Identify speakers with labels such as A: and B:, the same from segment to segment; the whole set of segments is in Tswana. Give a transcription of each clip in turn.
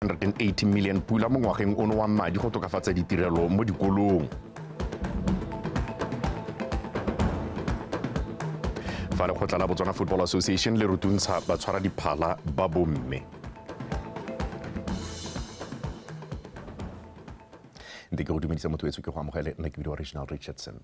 A: 180 million pula mo ngwageng ono wa madi go tokafatsa ditirelo mo dikolong fa lekgotla la botswana football association le rutuntsha batshwara diphala ba bomme ntse ke go dumedisa motho etso ke go amogele nna ke bidiwa reginald richardson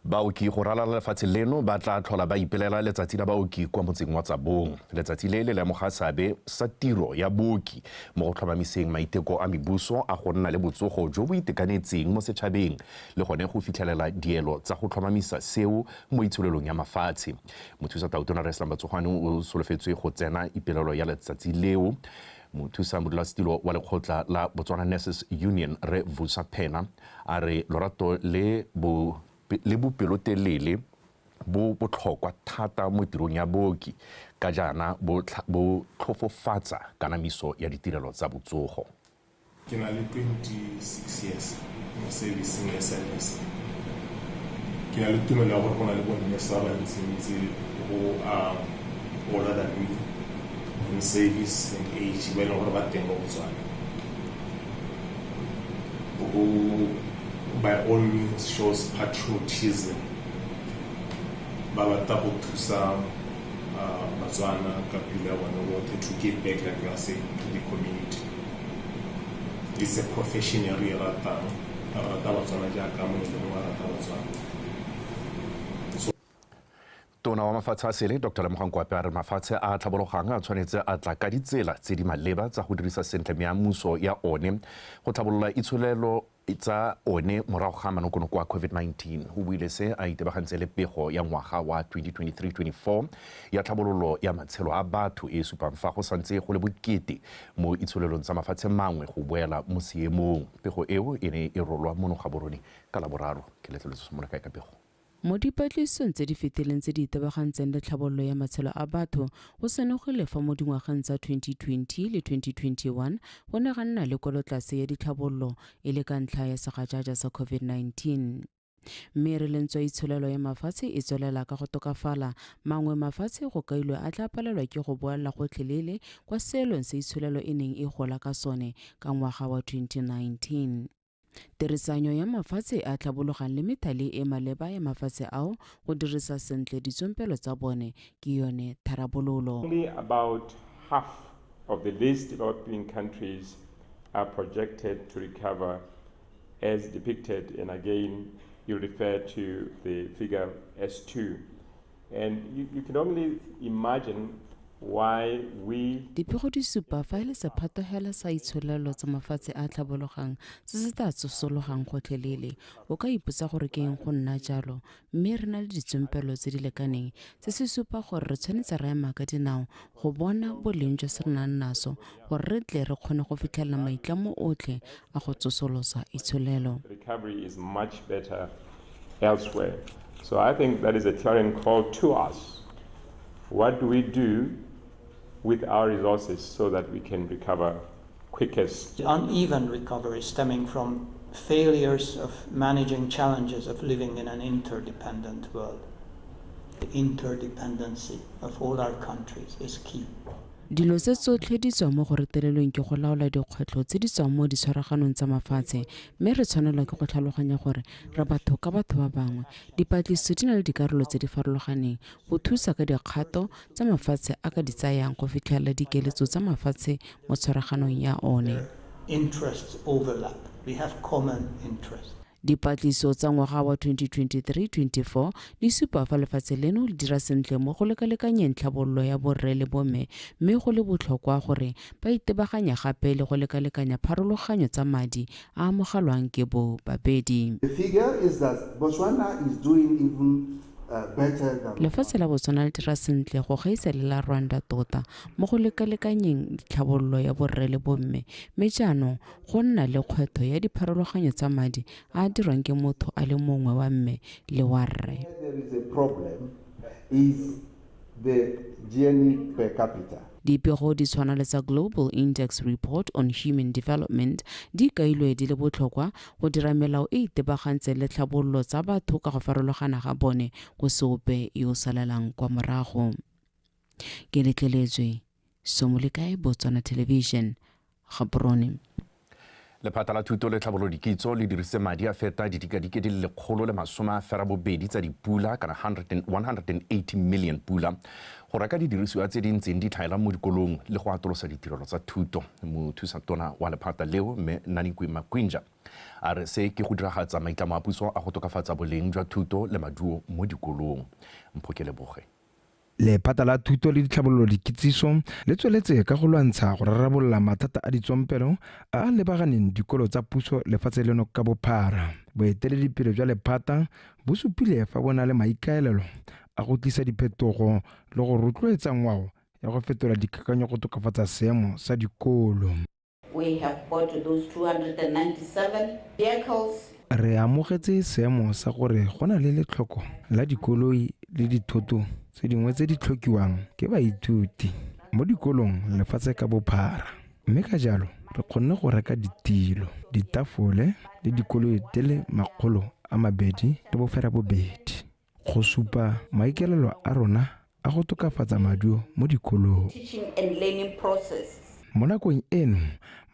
A: Baoki go ralala lefatshe leno ba tla tlhola ba ipelela letsatsi la baoki kwa motseng wa Tsabong. Letsatsi le le lemoga seabe sa tiro ya booki mo go tlhomamiseng maiteko a mebuso a go nna le botsogo jo bo itekanetseng mo setšhabeng le gone go fitlhelela dielo tsa go tlhomamisa seo mo itsholelong ya mafatshe. Mothusa Tautona Rre Slambatsogo Ane o solofetswe go tsena ipelelo ya letsatsi leo Mothusa modulasetilo wa lekgotla la Botswana Nurses Union, Rre Vusa Phena, a re lorato le bo le bopelotelele bo botlhokwa thata mo tirong ya booki ka jaana bo tlhofofatsa kanamiso ya ditirelo tsa botsogo. Ke na le
B: 26 years mo servicing ya SANES. Ke na le tumelo ya gore go na le bonurse ba bantsintsi go a older than me in service and age ba e leng gore ba teng mo Botswana. Go by all means shows patriotism ba batla go thusa Batswana ka pelo ya bone botlhe to give back like you are saying to the community. it's a profession e re e ratang re rata batswana jaaka mongwe le mongwe a rata batswana
A: tona wa mafatshe a sele dr lemogang kwape a re mafatshe a tlhabologang a tshwanetse a tla ka ditsela tse di maleba tsa go dirisa sentle meamuso ya one go tlhabolola itsholelo tsa one morago ga manokonoko a COVID-19. O buile se a itebagantse le pego ya ngwaga wa 2023-24 ya tlhabololo ya matshelo a batho e e supang fa go santse go le bokete mo itsholelong tsa mafatshe mangwe go boela mo seemong. Pego eo e ne e rolwa mono Gaborone ka Laboraro. Ke letleletswe Somolakae ka pego. Mo dipatlisisong
C: tse di fetileng tse di itebagantseng le tlhabololo ya matshelo a batho, go senogile fa mo dingwageng tsa 2020 le 2021 go ne ga nna le kwelotlase ya ditlhabololo e le ka ntlha ya segajaja sa COVID-19. Mme e re le ntswa itsholelo ya mafatshe e tswelela ka go tokafala, mangwe mafatshe go kailwe a tla palelwa ke go boela gotlhelele kwa seelong se itsholelo e neng e gola ka sone ka ngwaga wa 2019. Tirisanyo ya mafatshe a tlhabologang le methale e maleba ya mafatshe ao go dirisa sentle ditsompelo tsa bone ke yone tharabololo. Only about
D: half of the least developing countries are projected to recover as depicted and again you refer to the figure S2 And you, you can only imagine why we Dipego di supa
C: fa e le sephatogela sa itsholelo tsa mafatshe a a tlhabologang se se tla tsosologang gotlhelele. O ka ipotsa gore ke eng go nna jalo, mme re na le ditsompelo tse di lekaneng. Se se supa gore re tshwanetse ra ema ka dinao go bona boleng jo se re nang naso gore re tle re kgone go fitlhelela maitlamo otlhe a go tsosolosa itsholelo
D: elsewhere. So I think that is a clarion call to us. What do we do with our resources so that we can recover quickest. The uneven
E: recovery stemming from failures of managing challenges of living in an interdependent world. The interdependency of all our countries is key. Dilo tse
C: tsotlhe di tswa mo go retelelweng ke go laola dikgwetlho tse di tswang mo ditshwaraganong tsa mafatshe mme re tshwanelwa ke go tlhaloganya gore re batho ka batho ba bangwe. Dipatlisiso di na le dikarolo tse di farologaneng go thusa ka dikgato tsa mafatshe a ka di tsayang go fitlhelela dikeletso tsa mafatshe mo tshwaraganong ya one.
E: Dipatlisiso tsa
C: ngwaga wa 2023-24 di supa fa lefatshe leno le dira sentle mo go lekalekanyeng tlhabololo ya borre le bomme mme go le botlhokwa gore ba itebaganya gape le go lekalekanya pharologanyo tsa madi a amogelwang ke bo babedi. The figure
F: is that Botswana is doing even Lefatshe la Botswana le dira
C: sentle go gaisa le la Rwanda tota mo go lekalekanyeng tlhabololo ya borre le bomme, mme jaanong go nna le kgwetho ya dipharologanyo tsa madi a a dirwang ke motho a le mongwe wa mme le wa rre.
F: the GNI per capita. Dipego di tshwana
C: le tsa Global Index Report on Human Development di kailwe di le botlhokwa go dira melao e itebagantseng le tlhabololo tsa batho ka go farologana ga bone go se ope yo o salelang kwa morago. Ke letleletswe. Somo le kae Botswana Television, Gaborone.
A: Lephata la Thuto le Tlhabolodi Kitso le dirise madi a feta didikadike di le lekgolo le masome a ferabobedi tsa dipula kana 180 million pula go reka didirisiwa tse di ntseng di tlhaela mo dikolong le go atolosa ditirelo tsa thuto. Mothusa tona wa lephata leo Mme Nanikwe Makwinja a re se ke go diragatsa maitlamo a puso a go tokafatsa boleng jwa thuto le maduo mo dikolong. Mphokeleboge. Lephata la
G: Thuto le Ditlhabololo Dikitsiso le tsweletse ka go lwantsha go rarabolola mathata a ditsompelo a a lebaganeng dikolo tsa puso lefatshe leno ka bophara. Boeteledipele jwa lephata bo supile fa bo na le maikaelelo a go tlisa diphetogo le go rotloetsa ngwao ya go fetola dikakanyo go tokafatsa seemo sa dikolo.
H: We have got those 297 vehicles. Re amogetse
G: seemo sa gore go na le letlhoko la dikoloi le dithoto tse dingwe tse di tlhokiwang ke baithuti mo dikolong lefatshe ka bophara. Mme ka jalo, re kgonne go reka ditilo, ditafole le dikoloi di le makgolo a mabedi le bofera bobedi. Go supa maikelelo a rona a go tokafatsa maduo mo dikolong.
H: Mo nakong
G: eno,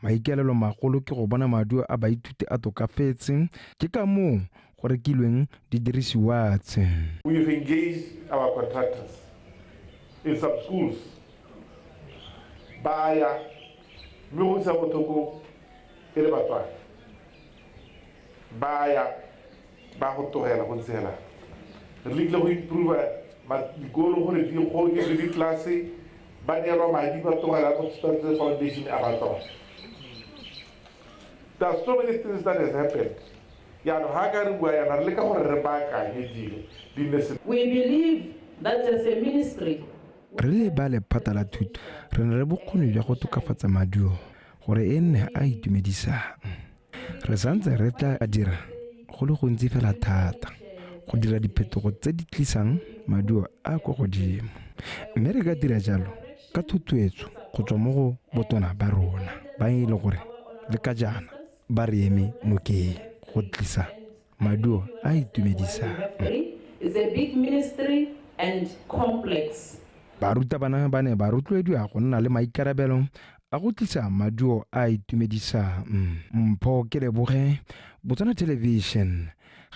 G: maikelelo magolo ke go bona maduo a baithuti a tokafetse, ke ka moo go rekilweng didirisiwa tse. We've engaged
I: our contractors in some schools ba ya mme go utlwisa botlhoko e le batswadi. Ba ya ba go tlogela go ntse hela. Re lekile go improve ma dikolo gore di goke le ditlelase ba neelwa madi ba tlogela go tshwanetse foundation a ba tsona. There are so many things that has happened. Jaanong ha ka re bua yana re leka gore re baakanye
H: dilo di nne sentle. We believe that as a ministry, Re le ba
G: lephata la thuto re na le bokgoni jwa go tokafatsa maduo. gore e nne a itumedisang re santse re tla dira go le gontsi fela thata go dira diphetogo tse di tlisang maduo a kwa godimo mme re ka dira jalo ka thuthuetso go tswa mo go botona ba rona ba e le gore le ka jaana ba re eme nokeng go tlisa maduo a
H: itumedisang Barutabana
G: ba ne ba rotloediwa go nna le maikarabelo a go tlisa maduo a a itumedisang mpho ke leboge botswana television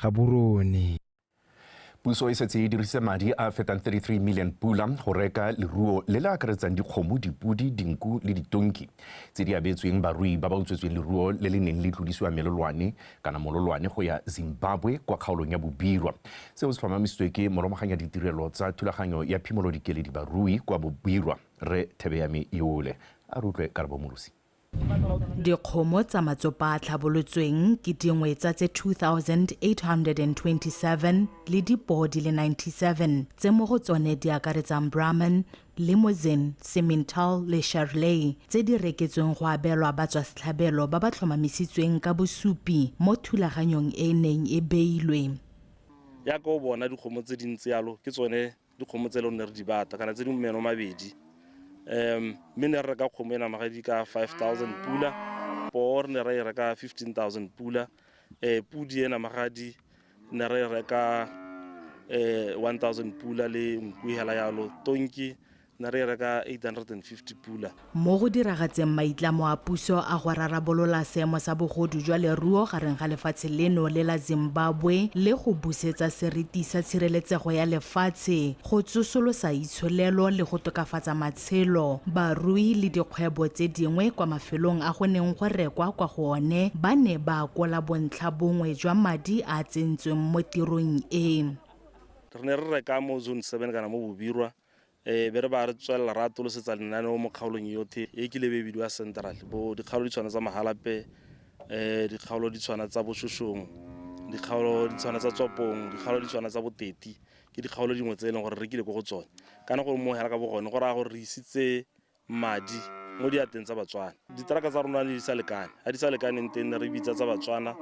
G: ga borone
A: puso e setse e dirisitse madi a fetang 33 million pula go reka leruo le le akaretsang dikgomo dipodi dinku le ditonki tse di abetsweng barui ba ba utswetsweng leruo le le neng le tlodisiwa melolwane kana mololwane go ya zimbabwe kwa kgaolong ya bobirwa seo se tlhomamisitswe ke moromaganya ditirelo tsa thulaganyo ya phimolodikeledi barui kwa bobirwa Rre Thebeyami Iole a re utlwe Karabo Morosi. Dikgomo
J: tsa matsopa a tlhabolotsweng ke dingwe tsa tse 2,827 le dipoo di le 97 tse mo go tsone di akaretsang Brahman, Limousin, Simmental le Charolais tse di reketsweng go abelwa batswasetlhabelo ba ba tlhomamisitsweng ka bosupi mo thulaganyong e e neng e beilwe. Jaaka
K: o bona dikgomo tse dintsi jalo ke tsone dikgomo tse e leng ne re di bata kana tse di meno mabedi um mme ne re reka kgomo e namagadi ka five thousand pula poo re ne ra e reka fifteen thousand pula um pudi e namagadi ne re e reka um one thousand pula le nku hela yalo tonki ne re e reka eight hundred and fifty pula Mo go diragatseng
J: maitlamo a puso a go rarabolola seemo sa bogodu jwa leruo gareng ga lefatshe leno le la Zimbabwe le go busetsa seriti sa tshireletsego ya lefatshe, go tsosolosa itsholelo le go tokafatsa matshelo, barui le dikgwebo tse dingwe kwa mafelong a go neng go rekwa kwa go one ba ne ba akola bontlha bongwe jwa madi a a tsentsweng mo tirong e. Re ne re
K: reka mo Zone Seven kana mo Bobirwa ee be re ba re tswelela re atolosetsa lenaneo mo kgaolong yothe e kile be bidiwa central bo dikgaolo di tshwana tsa magalape um dikgaolo di tshwana tsa bošošong dikgaolo di tshwana tsa tswapong dikgaolo di tshwana tsa boteti ke dikgaolo dingwe tse e leng gore re kile ko go tsone kana gore mo hela ka bogone go raya gore re isitse madi mo diateng tsa batswana ditraka tsa rona ne di sa lekane ga di sa lekaneng teng ne re bitsa tsa batswana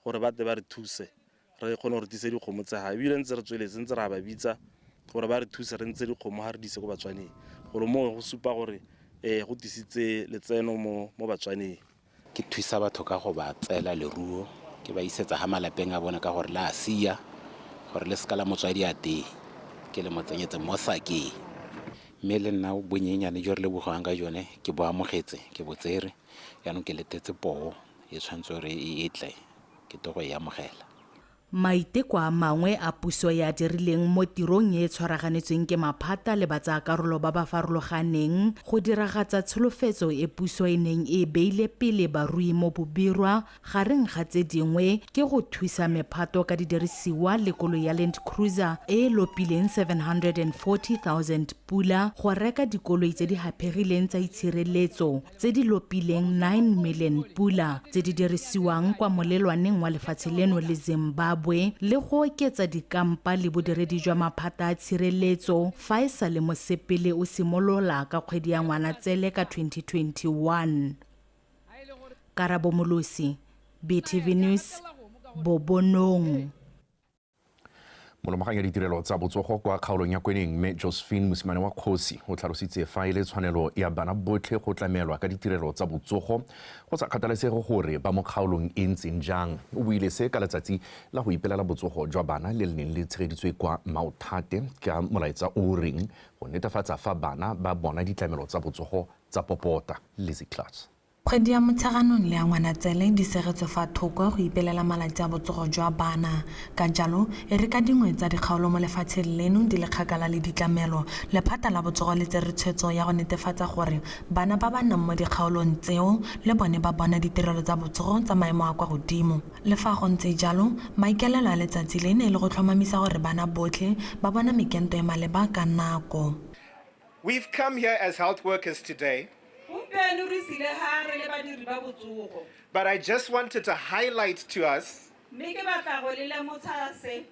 K: gore ba tle ba re thuse re kgone gore tise dikgomo tsa ga ebile ntse re tsweletse ntse re a ba bitsa gore ba re thuse re ntse dikgomo ga re dise ko batswaneng gore moo go supa gore um go tisitse letseno mo batswaneng ke thusa
L: batho ka go ba tseela leruo ke ba isetsa ga malapeng a bone ka gore la a sia gore le seka la motswadi a tee ke le mo tsenyetse mo sakeng mme le nna bonyenyane jo re lebogang ka jone ke bo amogetse ke botsere jaanong ke letetse poo e tshwanetse gore e tle ke tlo go e amogela. Maiteko
J: a mangwe a puso e a dirileng mo tirong e e tshwaraganetsweng ke maphata le batsaakarolo ba ba farologaneng go diragatsa tsholofetso e puso e neng e e beile pele barui mo Bobirwa, gareng ga tse dingwe ke go thusa mephato ka didirisiwa le koloi ya Land Cruiser e e lopileng R740,000 go reka dikoloi tse di haphegileng tsa itshireletso, tse di lopileng 9 million pula tse di dirisiwang kwa molelwaneng wa lefatshe leno le Zimbabwe le go oketsa dikampa le bodiredi jwa maphata a tshireletso fa e sa le mosepele o simolola ka kgwedi ya Ngwanatsele ka 2021. Karabo Molosi, BTV News, Bobonong.
A: molomaganya ditirelo tsa botsogo kwa kgaolong ya kweneng mme josephine mosimane wa kgosi o tlhalositse fa e le tshwanelo ya bana botlhe go tlamelwa ka ditirelo tsa botsogo go sa kgathalesege gore ba mo kgaolong e ntseng jang o buile se ka letsatsi la go ipelela botsogo jwa bana le le neng le tshegeditswe kwa maothate ka molaetsa o reng go netefatsa fa bana ba bona ditlamelo tsa botsogo tsa popota lizzy class Kgwedi ya Motsheganong
M: le ya Ngwanatsele di seretswe fa thoko go ipelela malatsi a botsogo jwa bana. Ka jalo, e re ka dingwe tsa dikgaolo mo lefatsheng leno di le kgakala le ditlamelo, lephata la botsogo le tsere tshwetso ya go netefatsa gore bana ba ba nnang mo dikgaolong tseo le bone ba bona ditirelo tsa botsogo tsa maemo a kwa godimo. Le fa go ntse jalo, maikaelelo a letsatsi le ne e le go tlhomamisa gore bana botlhe ba bona mekento e maleba ka nako. We've
N: come here as health workers today Gompieno re sile ga re le badiri ba botsogo. But I just wanted to highlight to us Mme ke batla go le lemotsha se.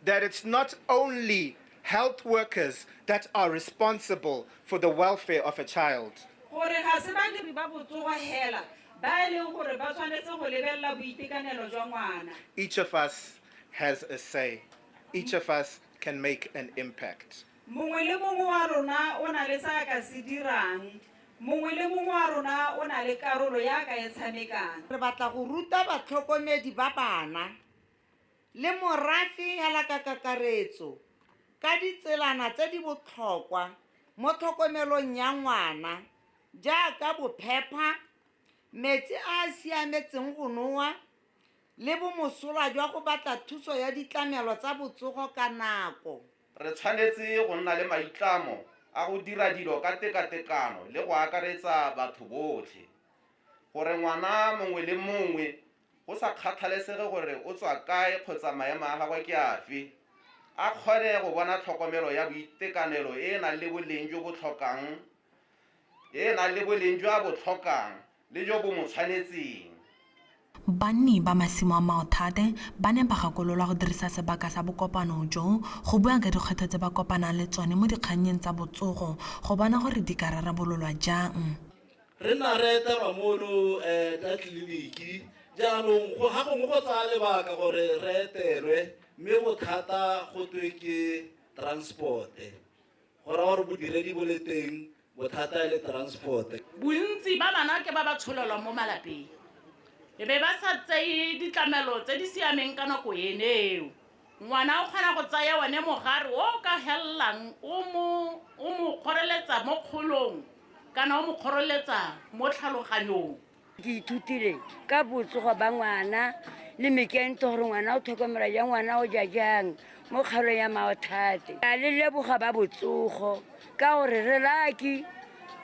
N: that it's not only health workers that are responsible for the welfare of a child. gore ga se badiri ba botsogo hela ba e leng gore ba tshwanetse go lebelela boitekanelo jwa ngwana Each of us has a say. Each of us can make an impact. Mongwe le mongwe wa rona o na le se a ka se
O: dirang. Mongwe le mongwe wa rona o na le karolo ya a ka e tshamekang. Re batla go ruta batlhokomedi ba bana le morafe hela ka kakaretso ka ditselana tse di botlhokwa mo tlhokomelong ya ngwana jaaka bophepha, metsi a a siametseng go nowa le bomosola jwa go batla thuso ya ditlamelo tsa botsogo ka nako. Re tshwanetse
P: go nna le maitlamo a go dira dilo ka tekatekano le go akaretsa batho botlhe, gore ngwana mongwe le mongwe, go sa kgathalesege gore o tswa kae kgotsa maemo a gagwe ke afe, a kgone go bona tlhokomelo ya boitekanelo e e nang le boleng jo bo tlhokang e e nang le boleng jo a bo tlhokang le jo bo mo tshwanetseng.
M: Banni ba masimo a Maothate ba ne ba gakololwa go dirisa sebaka sa bokopano jo go bua ka dikgwetlho tse ba kopanang le tsone mo dikgannyeng tsa botsogo go bona gore di ka rarabololwa jang. Re nna re
Q: etelwa mono ka tleliniki jaanong go ga gongwe go tsaya lebaka gore re etelwe mme bothata go twe ke transport-e. Go raya gore bodiredi bo le teng, bothata e le transport. Bontsi ba bana
R: ke ba ba tsholelwang mo malapeng e be ba sa tseye ditlamelo tse di siameng ka nako ene eo. Ngwana o kgona go tsaya one mogare o o ka helelang o mo o mo kgoreletsa mo kgolong kana o mo kgoreletsa mo tlhaloganyong. ke ithutile
S: ka botsogo ba ngwana le mekento gore ngwana o tlhokomela jang ngwana o ja jang mo kgaolong ya maothate a le leboga ba botsogo ka gore re laki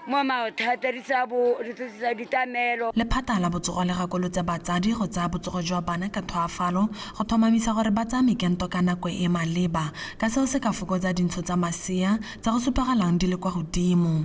S: mo maothata di tsa bo di tsa ditamelo lephata la botsogo
M: le gakolotse batsadi go tsaya botsogo jwa bana ka thwaafalo go tlhomamisa gore ba tsaya mekento ka nako e maleba ka seo se ka fokotsa dintsho tsa masea tsa go supagalang di le kwa godimo.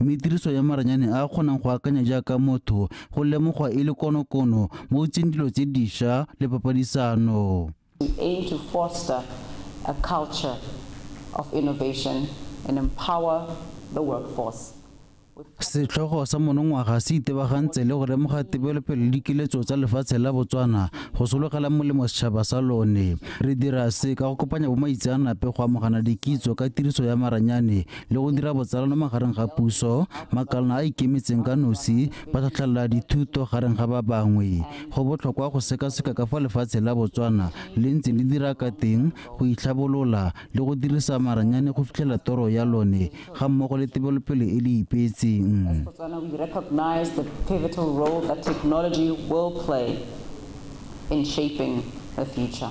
T: mme tiriso ya maranyane a a kgonang go akanya jaaka motho go lemogwa e le konokono mo utseng dilo tse disha le papadisano. We aim to
H: foster a culture of innovation and empower the workforce. Setlhogo
T: sa monongwaga se itebagantse le go lemoga tebelopele le dikiletso tsa lefatshe la Botswana go sologela molemo setšhaba sa lone. Re dira se ka go kopanya bomaitseanape go amogana dikitso ka tiriso ya maranyane le go dira botsalano magareng ga puso makalana a ikemetseng ka nosi ba tlhatlhelela dithuto gareng ga ba bangwe go botlhokwa go sekaseka ka fa lefatshe la botswana le ntse le dira ka teng go itlhabolola le go dirisa maranyane go fitlhela toro ya lone ga mmogo le tebelopele e le
H: ipeetseng in shaping the future.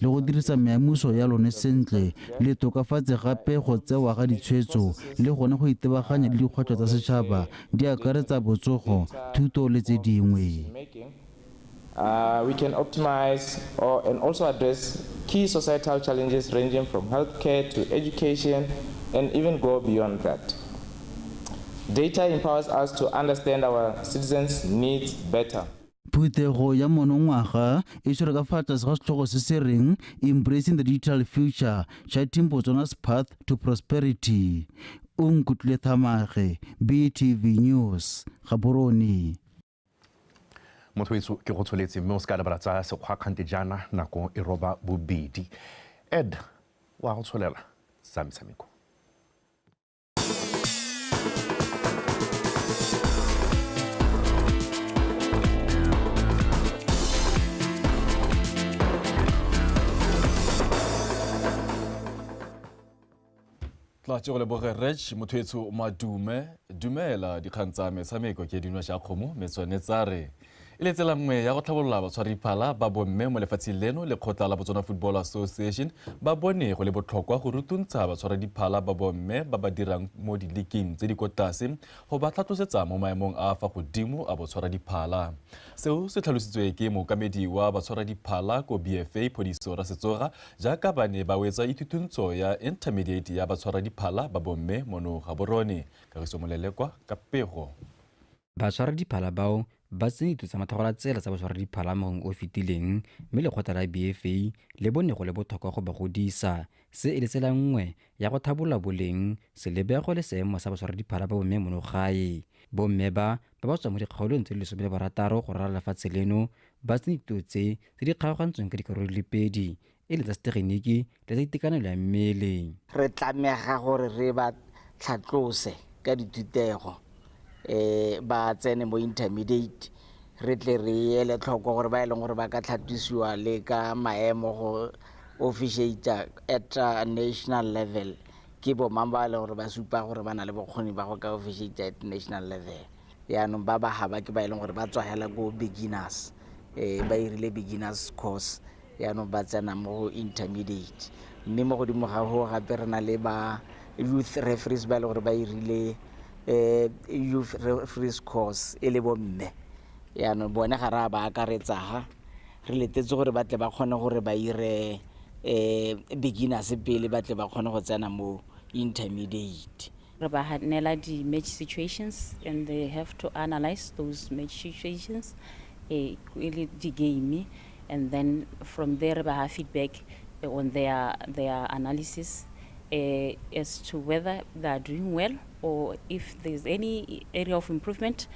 T: le go dirisa meamuso ya lone sentle le tokafatse gape go tsewa ga ditshwetso le gone go itebaganya le dikgwetlho tsa setšhaba di akaretsa botsogo thuto le tse dingwe Uh,
U: we can optimize or, and also address key societal challenges ranging from healthcare to education and even go beyond that. Data empowers us to understand our citizens' needs better. Phuthego ya
T: monongwaga e tshwere ka fa tlase ga setlhogo se se reng Embracing the Digital Future, Charting Botswana's Path to Prosperity. O nkutlwile Thamage, BTV News, Gaborone.
A: Mothoetso ke go tsholetse mme o se ka lebala tsa sekgwakgante jaana nako e roba bobedi. Ed wa go tsholela tsa metshameko.
V: tla tse go leboge rech motho etsho madume dumela dikgang tsa metshameko ke dino ja kgomo metswane tsa re E le tsela nngwe ya go tlhabolola batshwariphala ba bomme mo lefatsheng leno, lekgotla la Botswana Football Association ba bone go le botlhokwa go rutuntsha batshwaradiphala ba bomme ba ba dirang mo diliking tse di ko tlase go ba tlhatlosetsa mo maemong a fa godimo a botshwaradiphala. Seo se tlhalositswe ke mookamedi wa batshwaradiphala ko BFA Phodiso Rasetsoga jaaka ba ne ba wetsa ithutuntsho ya intermediate ya batshwaradiphala ba bomme mono Gaborone. Kagiso Molelekwa ka pego. Batshwaradiphala
W: bao ba tsene ditiro tsa mathagolatsela tsa botshwaradiphala mo ngwageng o o fetileng mme lekgotla la BFA le bone go le botlhokwa go ba godisa, se e le tsela nngwe ya go thabolola boleng, selebego le seemo sa batshwaradiphala ba bomme mono gae. Bomme ba, ba ba tswang mo dikgaolong tse di lesome le barataro go ralala lefatshe leno, ba tsene ditiro tse tse di kgaogantsweng ka dikarolo di le pedi, e le tsa setegeniki le tsa itekanelo ya mmele. Re tlamega
X: gore re ba tlhatlose ka dithutego um ba tsene mo intermediate re tle re ele tlhoko gore ba e leng gore ba ka tlhatlosiwa le ka maemo go officiata at national level ke bomang ba e leng gore ba supa gore ba na le bokgoni ba go ka officiata at national level. Yaanong ba ba haba ke ba e leng gore ba tswa hela ko beginners, um ba irile beginners course yaanong ba tsena mo go intermediate. Mme mo godimo ga go gape re na le ba youth referees ba e leng gore ba irile um youth referees course e le bomme. Yaanong bone ga re a ba akaretsa ha, re letetse gore ba tle ba kgone gore ba ire um beginners pele ba tle ba kgone go tsena mo intermediate. Re
B: ba neela di-match situations and they have to analyse those match situations um e le di-game and then from there re ba ha feedback on their, their analysis um as to whether they are doing well or if there is any area of improvement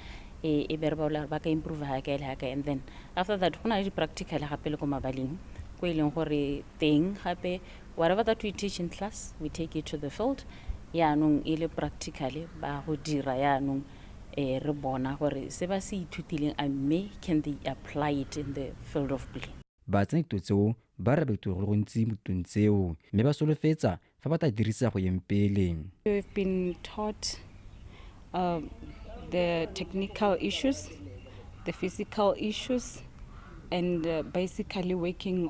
B: um e be re ba bolela gore ba ka improve ha kae le ha kae and then after that go na le di-practical gape le ko mabaleng ko e leng gore teng gape Whatever that we teach in class, we take it to the field. Yaanong e le practically ba go dira yaanong eh, re bona gore se ba se ithutileng a mme can they apply it in the field of play. Baatsenekto tseo
W: ba re beto go le gontsi mo ditong tseo mme ba solofetsa fa ba tla dirisa go yeng pele. We've been
D: taught uh, the technical issues, the physical issues, and uh, basically working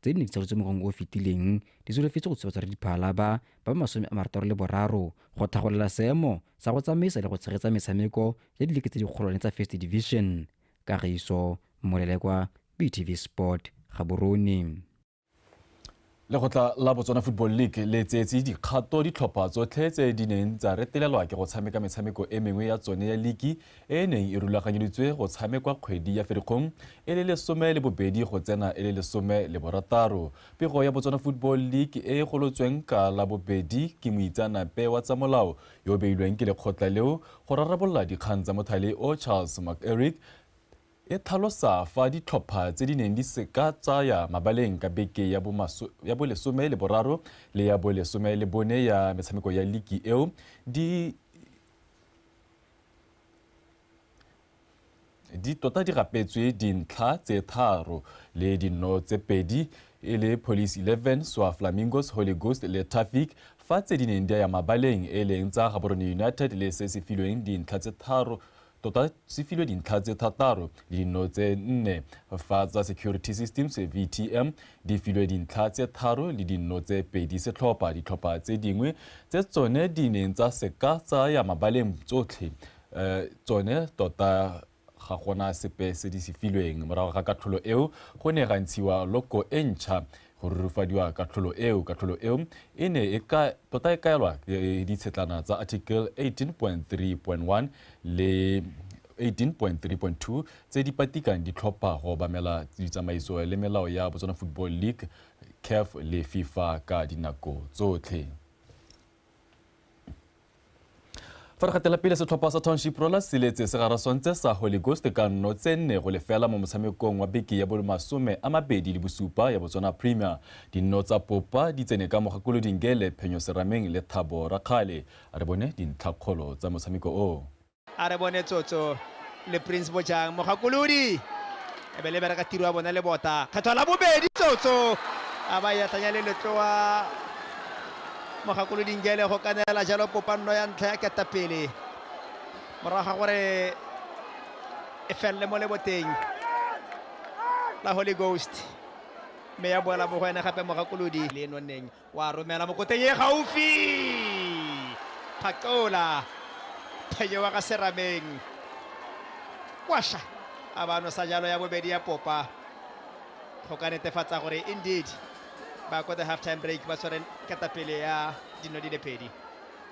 W: tse di ne di tsalotswe mo ngwageng o o fetileng di solofetse go tshobatsa diphala ba ba masome a marataro le boraro go tlhagolela seemo sa go tsamaisa le go tshegetsa metshameko ya dileke tse dikgolwane tsa first division kagiso molelekwa btv sport gaborone
V: lekgotla la botswana football league le tseetse dikgato ditlhopha tsotlhe tse di neng tsa retelelwa ke go tshameka metshameko e mengwe ya tsone ya liki e e neng e rulaganyeditswe go tshamekwa kgwedi ya Ferikgong e le lesome le bobedi go tsena e le lesome le borataro. Pego ya Botswana Football League e e golotsweng ka la bobedi ke moitseanape wa tsa molao yo o beilweng ke lekgotla leo go rarabolola dikgang tsa mothale o Charles McErick e tlhalosa fa ditlhopha tse di neng di seka tsaya mabaleng ka beke ya bolesome le boraro le ya bolesome le bone ya metshameko ya liki eo di di tota di rapetswe dintlha tse tharo le dinno tse pedi e le Police 11, Swa Flamingos, Holy Ghost le Traffic fa tse di neng di ya mabaleng e leng tsa Gaborone United le se se filweng dintlha tse tharo tota se filwe dintlha tse thataro le dinno tse nne fa tsa Security Systems, VTM, Di filwe dintlha tse tharo le dinno tse pedi setlhopha. Ditlhopha tse dingwe tse tsone di neng tsa se ka tsa ya mabaleng tsotlhe tsone tota ga gona sepe se di se filweng. Morago ga katlholo eo go ne ga ntshiwa loko e ntšha go rurufadiwa katlholo eo. Katlholo eo e ne e ka tota e kaelwa ditshetlana tsa Article 18.3.1 le 18.3.2 tse di patikang di tlhopha go obamela ditsamaiso le melao ya Botswana Football League, CAF le FIFA ka dinako tsotlhe. Fa re gatela pele setlhopha sa Township Rollers se letse se garaswantse sa Holy Ghost ka nno tse nne go lefela mo motshamekong wa beke ya bolmasome a mabedi le bosupa ya Botswana Premier. Dinno tsa Popa di tsene ka Mogakolodingele, Phenyo Serameng le Thabo Rakgale. A re bone dintlhakgolo tsa motshameko o. a re bone
E: tsotso le prince bojang mogakolodi e be le bereka tiro ya bone le bota kgetho la bobedi tsotso a ba yatlanya le letloa mogakolodi ngele go kanela jalo popanno ya ntlha ya ketapele morago ga gore e felele mo leboteng la holy ghost mme ya boela mo go ene gape mogakolodi le e nonneng Wa romela mo koteng e gaufi. Phakola. Phenyewa ka serameng. Kwasha. A ba nosa jalo ya bobedi ya popa. Go ka netefatsa gore indeed ba ko the half time break ba tshwere ketapele ya dino di le pedi.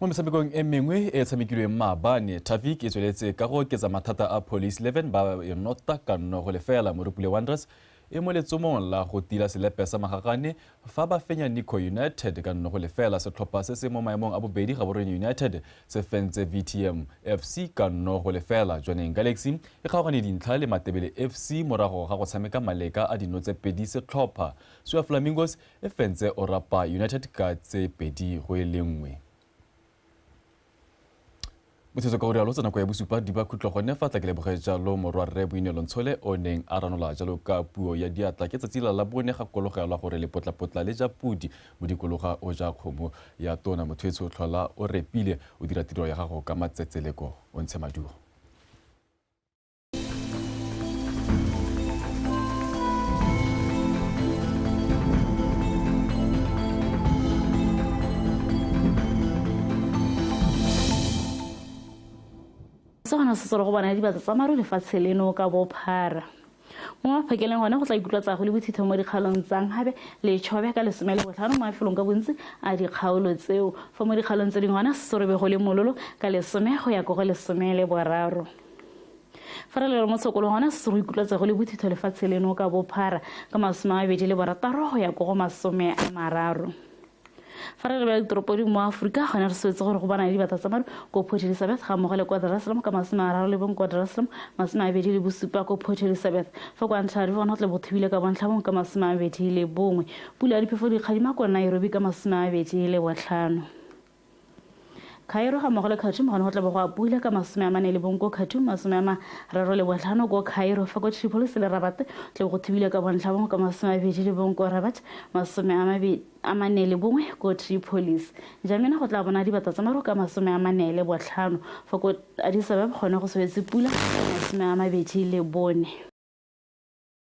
V: mo metshamekong e mengwe e tshamekilweng maabane tafik e tsweletse ka go oketsa mathata a police 11 ba e nota ka nno go lefela morupule wanderers e mo letsomong la go tila selepe sa magagane fa ba fenya nico united ka nno go lefela setlhopha se se mo maemong a bobedi ga borone united se fentse vtm fc ka nno go lefela jwaneng galaxy e kgaogane dintlha le matebele fc morago ga go tshameka maleka a dino tse pedi setlhopha sua flamingos E fentse o rapa United ka tse pedi go e le nngwe. Botshetso ka o rialo tsa nako ya bosupa di ba khutlo gone fa tla ke leboge jalo morwa rre Boinelo Ntshole o neng a ranola jalo ka puo ya diatla ke tsatsi la la bone ga kologelwa gore lepotlapotla le ja pudi mo dikologa o ja kgomo ya tona motho e tsho tlhola o repile o dira tiro ya gago ka matsetseleko o ntshe maduo
B: se gona se selo go bona dibatsa tsa maru lefatshe leno ka bophara mo maphakeleng gone go tla ikutlwa tsago le bothitho mo dikgaolong tsang gabe letshobe ka lesome le botlhano mo mafelong ka bontsi a dikgaolo tseo fa mo dikgaolong tse dingwe gona sesorobego le mololo ka lesome go ya ko go lesome le boraro fa re lelo mo sekolong gona se se go ikutlwatsa go le bothitho lefatshe leno ka bophara ka masome a mabedi le borataro go ya ko go masome a mararo fa re lebela ditoropo dingwe mo aforika gone re swetse gore go bana le dibata tsa mare ko port elizabeth ga mmogo le kwa jerusalem ka masome a raro le bong kwa jerusalem masome a bedi le bosupa ko port elizabeth fa kwa ntlha rive gona tle bothubile ka bontlhabong ka masome a bedi le bongwe pula ya diphefo dikgadima kwa nairobi ka masome a bedi le botlhano Cairo ga mmogo le Khartoum gone go tla bo go a pula ka masome a mane le bong ko Khartoum, masome a mararo le botlhano ko Cairo, fa ko Tripolis le Rabat tla bo go thubile ka bontlha bongwe ka masome a bedi le bong ko Rabat, masome a mabedi a mane le bongwe ko Tripolis. Njamena go tla bona dibata tsa maru ka masome a mane le botlhano, fa ko Addis Ababa gone go swetse pula masome a mabedi le bone.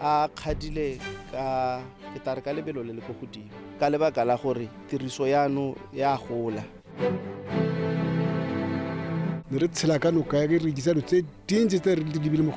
G: a kgadile ka ke tare ka lebelo le le ko godimo ka lebaka la gore tiriso yano ya gola
I: ne re tshela ka noka ya ke rekisa dilo tse dintsi tse re di lebile mo go